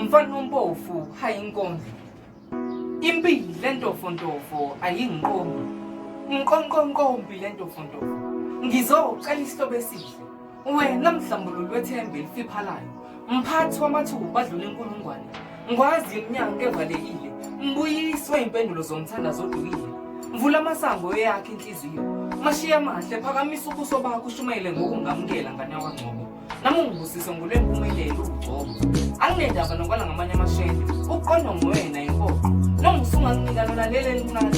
Mfana ompofu hayi inkonzo. Impilo lentofontofo ayingiqomi. Ngiqonqonqombi lentofontofo. Ngizocela isihlobo esihle. Wena mhlambululu wethemba elifiphalayo. Mphathi wamathuba badlula inkulungwane. Ngwazi iminyango evalekile, mbuyiswe impendulo zomthandazo odukile. Mvula amasango eyakhe inhliziyo, mashiye amahle, phakamisa ubuso bakho ushumayele ngokungamukela ngane yakwangcobo. Nami ungibusise ngolwempumelelo ugcobo. Anginendaba nokwala ngamanye amashende, uqondwa nguwena impoqo. Noma usunganginika lona leli elincane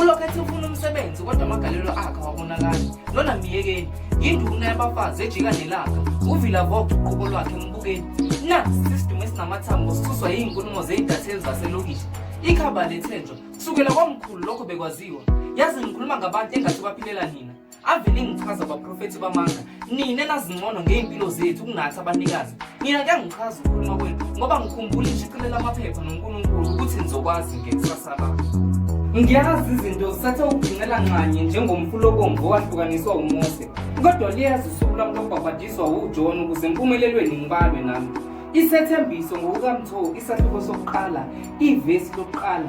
ulokhu ethi ufuna umsebenzi kodwa amagalelo akhe awabonakali lona myekeni yinduna yabafazi ejika nelanga uvila vok uqobo lwakhe mbukeni na sisidumo esinamathambo sisuswa yiyinkulumo zeyidatheli zaselokishi ikhaba lethenjwa kusukela kwamkhulu lokho bekwaziwa yazi ngikhuluma ngabantu engathi baphilela nina ave ningichaza abaprofethi bamanga nina nazincono ngey'mpilo zethu kunathi abanikazi nina kuyangichaza ukukhuluma kwenu ngoba ngikhumbula ishicilela amaphepha nonkulunkulu ukuthi nizokwazi ngekusasa lami ngiyazi izinto zisathe ukugcinela nxanye njengomfula obomvu owahlukaniswa umose kodwa liyazi usuku lami lokubhabhadiswa wujona ukuze empumelelweni ngibalwe nami isethembiso ngokukamtho isahluko sokuqala ivesi lokuqala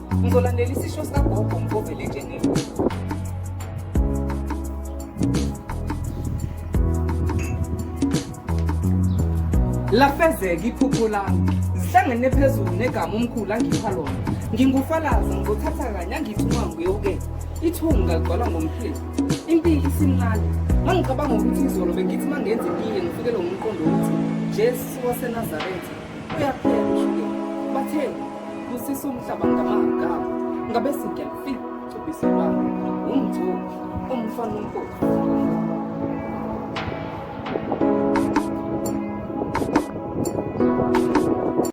Ngizolandela isisho sikagogo ngikuvele nje nini. Lafezeka iphupho lami ngihlangene phezulu negama umkhulu angipha lona ngingufalaza ngizothatha kanye angithuma nguyoke ithunga ligcwala ngomhleli impilo isimncane ma ngicabanga ukuthi izolo bengithi ma ngenza itiye ngifikelwe ngumqondo wokuthi jesu wasenazaretha uyaphela ushukela batheni kusisa umhlaba ngamagama ngabe singelfi cubiselwana umthuli umfana unkosi